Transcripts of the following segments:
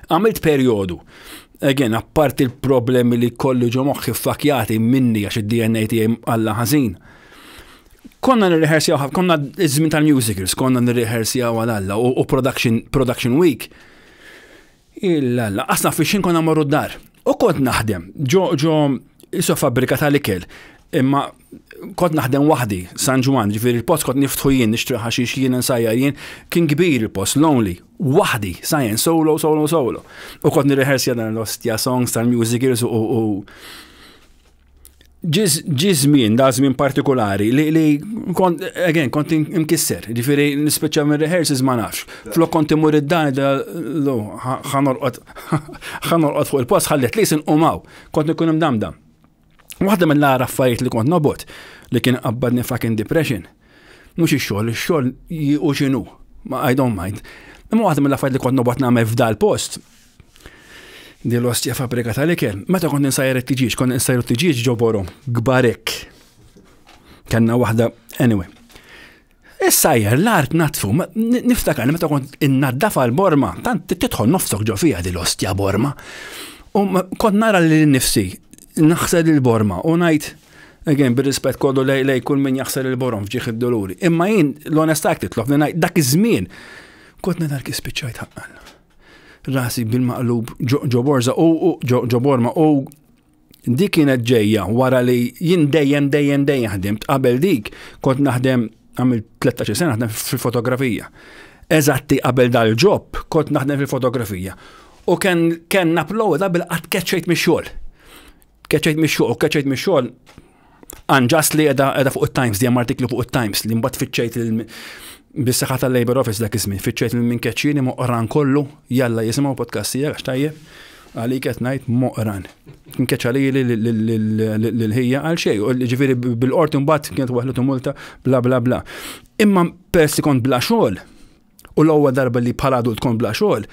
Għamilt perjodu Again, apparti il-problemi li kolli ġo moħħi fakjati minni għax id-DNA tiegħi għalla ħażin. Konna nirrehersjaw, konna iż-żmien tal-musicals, konna nirrehersjaw għal alla u production, production week. Il-alla, asna fi xin konna marru d-dar. U kont naħdem, ġo ġo iso fabbrika tal-ikel, imma kont naħdem waħdi, San Ġwan, ġifiri il-post kont niftħu jien, nixtri ħaxix jien nsajjar jien, kien kbir il-post, lonely, waħdi, sajjen, solo, solo, solo. U kont nirreħers jadan l-ostja songs tal-music years u u ġizmin, da żmien partikolari li li kont again kont imkisser, ġifieri nispeċċa minn rehearses ma nafx. Flok kont imur id-dan lo ħanorqod ħanorqod fuq il-post ħallet li sinqumaw. Kont ikun imdamdam. Waħda minn l-għara affarijiet li kont nobot li kien qabbadni fucking depression. Mhux ix-xogħol, ix-xogħol u x'inhu. I don't mind. Imma waħda minn l-affarijiet li kont nobot nagħmel f'dal post di l-ostja fabrika tal-ikel. Meta kont insajr it-tiġiġ, kont insajr it-tiġiġ ġoborom, gbarek. Kenna waħda, anyway. Is-sajjer l-art natfu, niftakar meta kont innaddafa l-borma, tant tidħol nofsok ġo fija dil ostja borma. U kont nara li nifsi, naħsel il-borma u ngħid Again, bir-rispett kollu lej lej kull min jaħsel il-borom fġieħ id-doluri. Imma jien l-onestà titlob li ngħid dak iż-żmien kont nidher kif spiċċajt ħaqqan. Rasi bil-maqlub ġo borza u ġo borma u Di kienet ġejja wara li jien dejjem dejjem dejjem ħdimt qabel dik kont naħdem għamil 13 sena naħdem fil-fotografija. Eżatti qabel dal-ġob kont naħdem fil-fotografija. U kien kien napplowda bil-qatt keċċejt mix-xogħol. Keċċejt mix-xogħol, keċċejt mix-xogħol Unjust li edha edha fuq it-Times, di artiklu fuq it-Times li mbagħad fiċċejt bis-saħħa tal-Labor Office dak iż-żmien, fiċċejt minn keċċini moqran kollu, jalla jisimgħu podcast tiegħek għax tajjeb, għalik qed ngħid moqran. Nkeċċa li l-ħija għal xejn, ġifieri bil-qorti mbagħad kienet waħlu tumulta bla bla bla. Imma persi kont bla xogħol, U l-ewwel darba li bħala adult kont bla xogħol,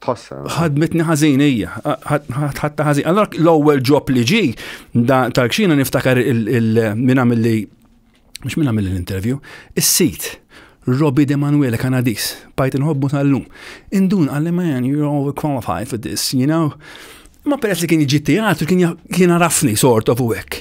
Tħossa. ħadmitni ħażin hija, ħadta ħażin. Allora l-ewwel ġob li ġi da tal-kxina niftakar il- il- min għamil li mhux min għamil l-interview, is-sit. Robbie De Manuele Kanadis, bajt inħobbu tal-lum. Indun għalli man, you're overqualified for this, you know. Ma peress li kien iġi teatru, kien ja- kien arafni sort of u hekk.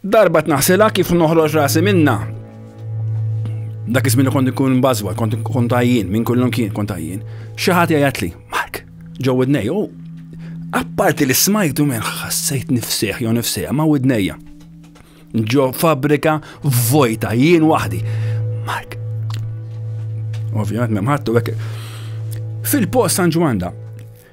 Darba tnaħsilha kif noħroġ rasi minna. Dak iż-żmien kont ikun bażwa, kont ikun tajjin, minn kullum kien kont tajjin. Xi ħadd jgħidli, Mark, ġew widnej, u apparti li smajtu minn ħassejt nifsieħ jew nifsieħ ma' widnejja. Ġo fabrika vojta jien waħdi. Mark. Ovvjament m'hemm ħadd u hekk. Fil-post San Ġwanda,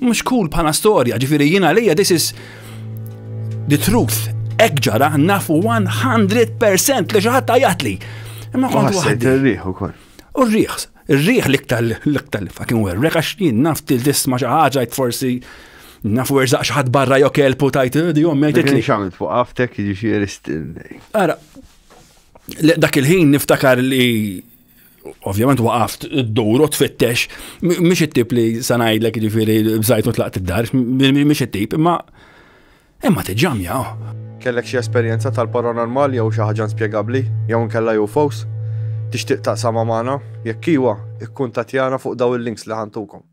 Mhux cool bħala storja, ġifieri jien għalija this is the truth. Ek ġara nafu 100% li xi ħadd tajatli. Imma kont waħdi. Ir-riħ ukoll. U r-riħ, ir-riħ l-iktar l-iktar li fucking werrek għax jien naf til-disma xi ħaġa forsi nafu erzaq xaħat barra jo kelpu tajt, eh, di jom mejtet li. Xamil fuq għaftek jiġifieri still. Ara, dak il-ħin niftakar li ovvjament waqaft id-dur u tfittex, mhix it-tip li sanajdlek ġifieri bżajt u tlaqt id-dar, mhix it-tip, imma imma tiġġamja. Kellek xi esperjenza tal-paranormal jew xi ħaġa inspjegabbli jew inkella UFOs? Tixtieq taqsama magħna? Jekk iwa, ikkuntattjana fuq daw il-links li ħantukom.